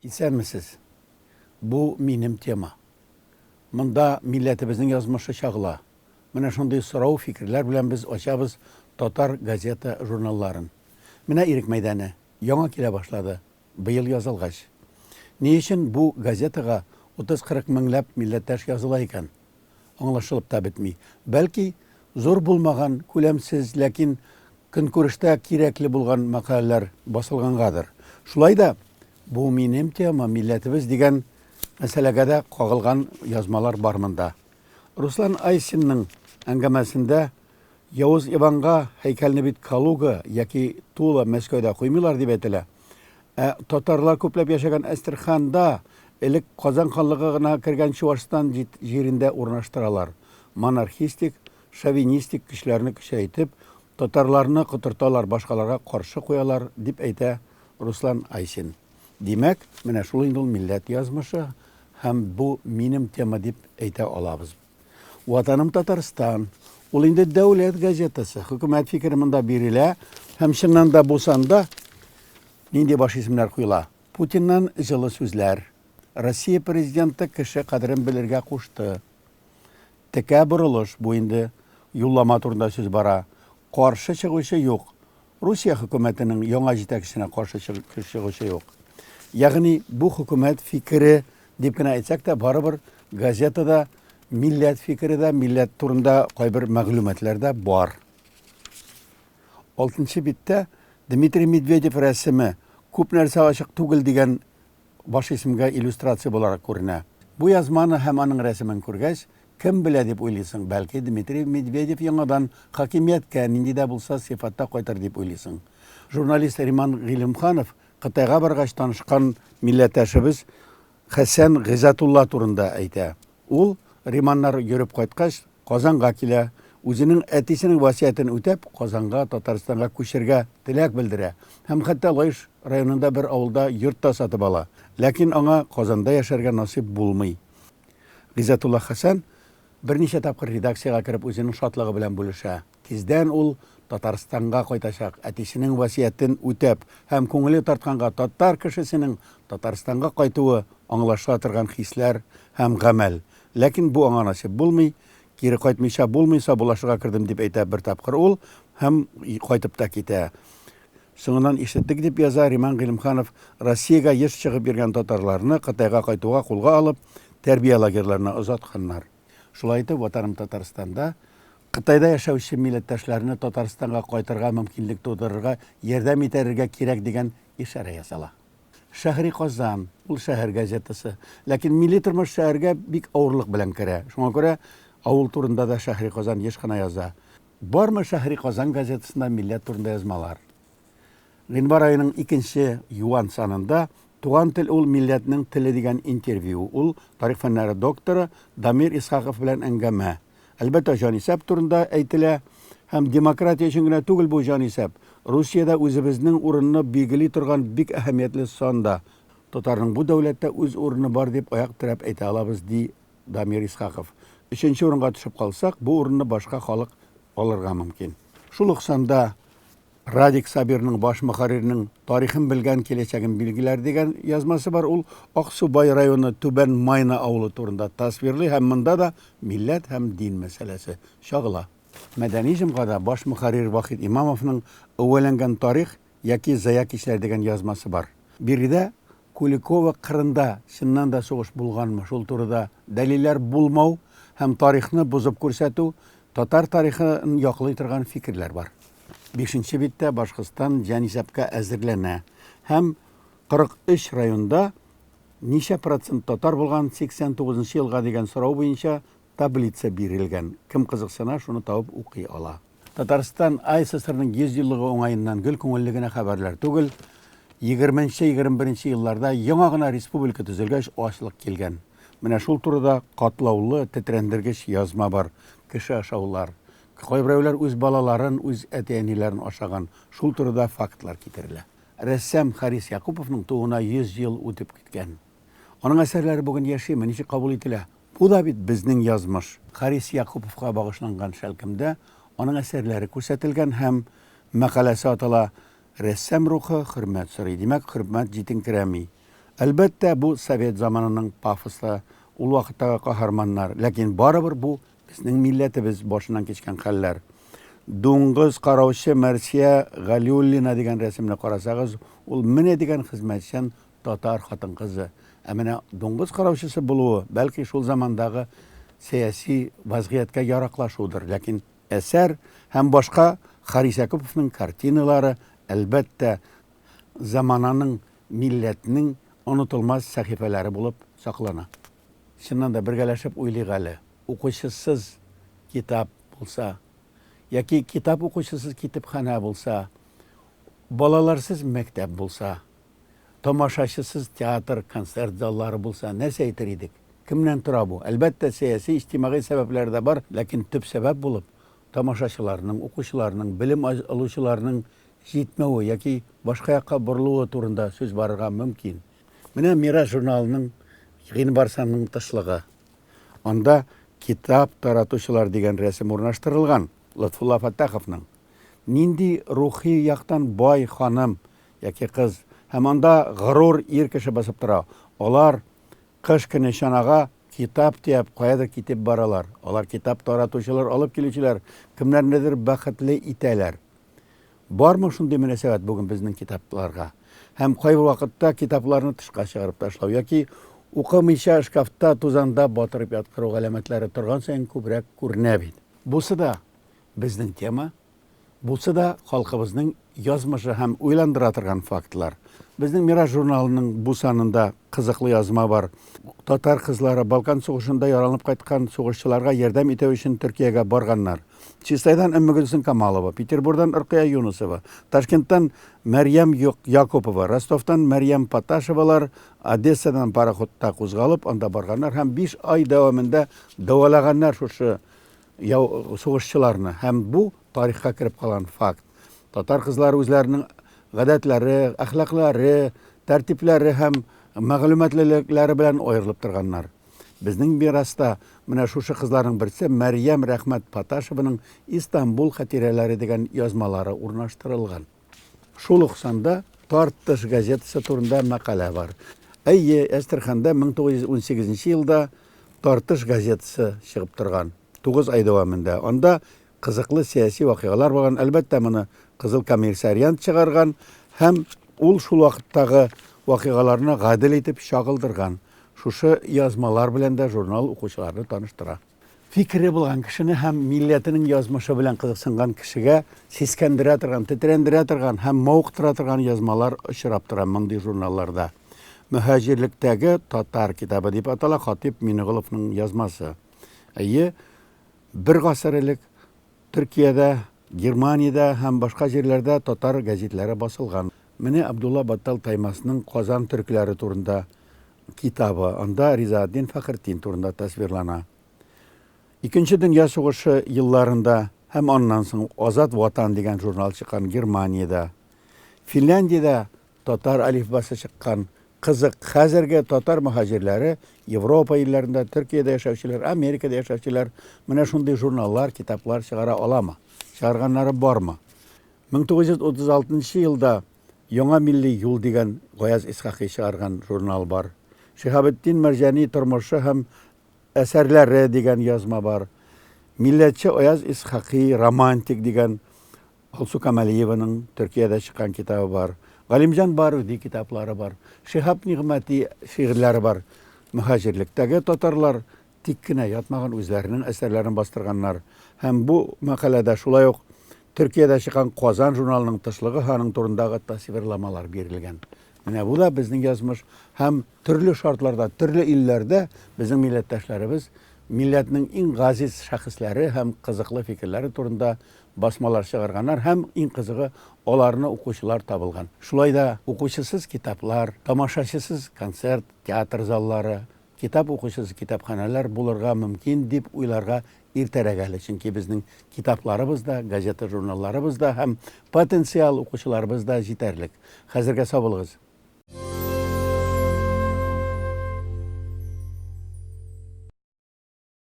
Исәнмесез. Бу минем тема. Монда милләтебезнең язмышы чагыла. Менә шундый сорау, фикерләр белән без ачабыз татар газета, журналларын. Менә Ирек мәйданы, яңа килә башлады. Быел язылгач. Ни өчен бу газетага утыз-кырык меңләп милләттәш языла икән? Аңлашылып та бетми. Бәлки, зур булмаган, күләмсез, ләкин көнкүрештә кирәкле булган мәкаләләр басылгангадыр. Шулай да Бу минем тема, милләтебез дигән мәсьәләгә дә кагылган язмалар бар монда. Руслан Айсинның әңгәмәсендә Явыз Иванга һәйкәлне бит Калуга яки Тула, Мәскәүдә куймыйлар дип әйтелә. Ә татарлар күпләп яшәгән Әстерханда, элек Казан ханлыгы гына кергән Чуашстан җирендә урнаштыралар. Монархистик, шовинистик көчләрне көчәйтеп, татарларны котырталар, башкаларга каршы куялар, дип әйтә Руслан Айсин. Димәк, менә шул инде ул милләт язмышы һәм бу минем тема дип әйтә алабыз. Ватаным Татарстан. Ул инде дәүләт газетасы. Хөкүмәт фикере монда бирелә. Һәм чыннан да бу санда нинди баш исемнәр куела? Путиннан җылы сүзләр. Россия президенты кеше кадерен белергә кушты. Текә борылыш бу инде юллама турында сүз бара. Каршы чыгучы юк. Русия хөкүмәтенең яңа җитәкчесенә каршы чыгучы юк. Ягъни бу хөкүмәт фикере дип кенә әйтсәк тә, барыбер газетада милләт фикере дә, милләт турында кайбер мәгълүматлар да бар. Алтынчы биттә Дмитрий Медведев рәсеме күп нәрсә ачык түгел дигән баш исемгә иллюстрация буларак күренә. Бу язманы һәм аның рәсемен күргәч, кем белә дип уйлыйсың, бәлки, Дмитрий Медведев яңадан хакимияткә нинди дә булса сыйфатта кайтыр дип уйлыйсың. Журналист Риман Гыйлемханов Кытайга баргач танышкан милләттәшебез Хәсән Гыйззәтулла турында әйтә. Ул, Риманнар йөреп кайткач, Казанга килә, үзенең әтисенең васыятен үтәп, Казанга, Татарстанга күчергә теләк белдерә һәм хәтта Лаеш районында бер авылда йорт та сатып ала. Ләкин аңа Казанда яшәргә насыйп булмый. Гыйззәтулла Хәсән берничә тапкыр редакциягә кереп үзенең шатлыгы белән бүлешә. Тиздән ул Татарстанга кайтачак, әтисенең васыятен үтәп, һәм күңеле тартканга татар кешесенең Татарстанга кайтуы аңлашыла торган хисләр һәм гамәл. Ләкин бу аңа насыйп булмый, кире кайтмыйча булмый, сабулашырга кердем, дип әйтә бер тапкыр ул һәм кайтып та китә. Соңыннан ишеттек, дип яза Риман Гыйлемханов, Россиягә еш чыгып йөргән татарларны Кытайга кайтуга кулга алып, тәрбия лагерьларына озатканнар. Шулай итеп, Ватаным Татарстанда Кытайда яшәүче милләттәшләрне Татарстанга кайтырга мөмкинлек тудырырга ярдәм итәрергә кирәк дигән ишарә ясала. Шәһри Казан, ул шәһәр газетасы. Ләкин милли тормыш шәһәргә бик авырлык белән керә. Шуңа күрә авыл турында да Шәһри Казан еш кына яза. Бармы Шәһри Казан газетасында милләт турында язмалар? Гыйнвар аеның икенче юан санында Туган тел ул милләтнең теле дигән интервью, ул тарих фәннәре докторы Дамир Исхаков белән әңгәмә. Әлбәттә, җанисәп турында әйтелә. Һәм демократия өчен генә түгел бу җанисәп. Русиядә үзебезнең урынны билгели торган бик әһәмиятле сан да. Татарның бу дәүләттә үз урыны бар дип аяк терәп әйтә алабыз, ди Дамир Исхаков. Өченче урынга төшеп калсак, бу урынны башка халык алырга мөмкин. Шул ук санда Радик Сабирның баш мөхәррирнең тарихын белгән киләчәген билгеләр дигән язмасы бар. Ул Аксубай районы Түбән Майна авылы турында тасвирлый һәм монда да милләт һәм дин мәсьәләсе чагыла. Мәдәни җомгада баш мөхәррир Вахит Имамовның Өвәләнгән тарих яки Зая кичләр дигән язмасы бар. Биредә Куликово кырында чыннан да сугыш булганмы, шул турыда дәлилләр булмау һәм тарихны бозып күрсәтү, татар тарихын яклый торган фикерләр бар. Бишенче биттә Башкортстан җанисәпкә әзерләнә һәм 43 районда ничә процент татар булган 89 нчы елга дигән сорау буенча таблица бирелгән, кем кызыксына, шуны табып укый ала. Татарстан АССРның 100 еллыгы уңаеннан гел күңелле генә хәбәрләр түгел. Егерменче-егерме беренче елларда яңа гына республика төзелгәч ачлык килгән. Менә шул турыда катлаулы, тетрәндергеч язма бар, кеше ашаулар. Кайберәүләр үз балаларын, үз әти-әниләрен ашаган. Шул турыда фактлар китерелә. Рәссам Харис Якуповның тууына 100 ел үтеп киткән. Аның әсәрләре бүген яшиме, ничек кабул ителә? Бу да бит безнең язмыш. Харис Якуповка багышланган шәлкемдә аның әсәрләре күрсәтелгән һәм мәкаләсе атала Рәссам рухы хөрмәт сорый, димәк, хөрмәт җитенкерәми. Әлбәттә, бу совет заманының пафосы, ул вакыттагы каһарманнар, ләкин барыбер бу безнең милләтебез башыннан кичкән хәлләр. Дуңгыз караучы Мәрсия Галиуллина дигән рәсемне карасагыз, ул менә дигән хезмәтчән Татар хатын-кызы. Ә менә дуңгыз караучысы булуы, бәлки, шул замандагы сәяси вазгыятькә яраклашудыр. Ләкин әсәр һәм башка Харис Якуповның картиналары, әлбәттә, замананың, милләтнең онытылмас сәхифәләре булып саклана. Чыннан да, бергәләшеп уйлыйк әле, укучысыз китап булса, яки китап укучысыз китепханә булса, балаларсыз мәктәп булса, Тамашачысыз театр, концерт заллары булса, нәрсә әйтер идек? Кемнән тора бу? Әлбәттә, сәяси, иҗтимагый сәбәпләр дә бар, ләкин төп сәбәп булып, тамашачыларның, укучыларның, белем алучыларның җитмәве яки башка якка борылуы турында сүз барырга мөмкин. Менә Мирас журналының Гыйнвар санының тышлыгы. Анда Китап таратучылар дигән рәсем урнаштырылган, Лотфулла Фәттаховның. Нинди рухи яктан бай ханым, Яки кыз. Һәм анда горур ир кеше басып тора. Алар, кыш көне чанага китап төяп, каядыр китеп баралар. Алар китап таратучылар, алып килүчеләр, кемнәрнедер бәхетле итәләр. Бармы шундый мөнәсәбәт бүген безнең китапларга? Һәм кайбер вакытта китапларны тышка чыгарып ташлау яки укымыйча шкафта, тузанда батырып яткыру галәмәтләре торган саен күбрәк күренә бит. Бусы да безнең тема. Булса да, халкыбызның язмышы һәм уйландыра торган фактлар. Безнең Мираж журналының бу санында кызыклы язма бар. Татар кызлары Балкан сугышында яраланып кайткан сугышчыларга ярдәм итү өчен Төркиягә барганнар. Чистайдан Өммегөлсем Камалова, Петербурдан Оркыя Юнысова, Ташкенттан Мәрьям Якупова, Ростовтан Мәрьям Паташевалар Одессадан пароходта кузгалып, анда барганнар һәм биш ай дәвамында дәвалаганнар шушы Яу сугышчыларны һәм бу тарихка кереп калган факт. Татар кызлары үзләренең гадәтләре, әхлаклары, тәртипләре һәм мәгълүматлылекләре белән аерылып торганнар. Безнең мираста менә шушы кызларның берсе Мәрьям Рәхмәт Паташеваның Истанбул хатирәләре дигән язмалары урнаштырылган. Шул ук санда Тартыш газетасы турында мәкалә бар. Әйе, Әстерханда 1918 елда Тартыш газетасы чыгып торган, тугыз ай дәвамында. Анда кызыклы сәяси вакыйгалар булган. Әлбәттә, моны Кызыл коммерсариант чыгарган һәм ул шул вакыттагы вакыйгаларны гадел итеп чагылдырган. Шушы язмалар белән дә журнал укучыларны таныштыра. Фикере булган кешене һәм милләтенең язмышы белән кызыксынган кешегә сискәндерә торган, тетрәндерә торган һәм мавыктыра торган язмалар очрап тора мондый журналларда. Мөһаҗирлектәге татар китабы дип атала Хатип Минеголовның язмасы. Әйе, бер гасыр элек Төркиядә, Германиядә һәм башка җирләрдә татар гәзитләре басылган. Менә Абдулла Баттал Таймасның Казан төркләре турында китабы, анда Ризаэтдин Фәхретдин турында тасвирлана. Икенче дөнья сугышы елларында һәм аннан соң Азат Ватан дигән журнал чыккан Германиядә. Финляндиядә Татар әлифбасы чыккан кызык хәзерге татар мөһаҗирләре, Европа илләрендә, Төркиядә яшәүчеләр, Америкада яшәүчеләр менә шундый журналлар, китаплар чыгара аламы? Чыгарганнары бармы? 1936 елда Яңа милли юл дигән Гаяз Исхакый чыгарган журнал бар. Шиһабетдин Мәрҗани тормышы һәм әсәрләре дигән язма бар. Милләтче Аяз Исхакый, романтик дигән Алсу Камалиеваның Төркиядә чыккан китабы бар. Галимҗан Баруди китаплары бар. Шиһап Нигъмәти шигырьләре бар. Мөһаҗирлектәге татарлар тик кенә ятмаган, үзләренең әсәрләрен бастырганнар. Һәм бу мәкаләдә шулай ук Төркиядә чыккан Казан журналының тышлыгы ханың турындагы тасвирламалар бирелгән. Менә бу да безнең язмыш һәм төрле шартларда, төрле илләрдә безнең милләттәшләребез милләтнең иң газиз шәхесләре һәм кызыклы фикерләре турында басмалар чыгарганнар һәм, иң кызыгы, аларны укучылар табылган. Шулай да укучысыз китаплар, тамашачысыз концерт, театр заллары, китап укучысыз китапханәләр булырга мөмкин дип уйларга иртәрәк әле, чөнки безнең китапларыбыз да, газета-журналларыбыз да һәм потенциаль укучыларыбыз да җитәрлек. Хәзергә сау булыгыз!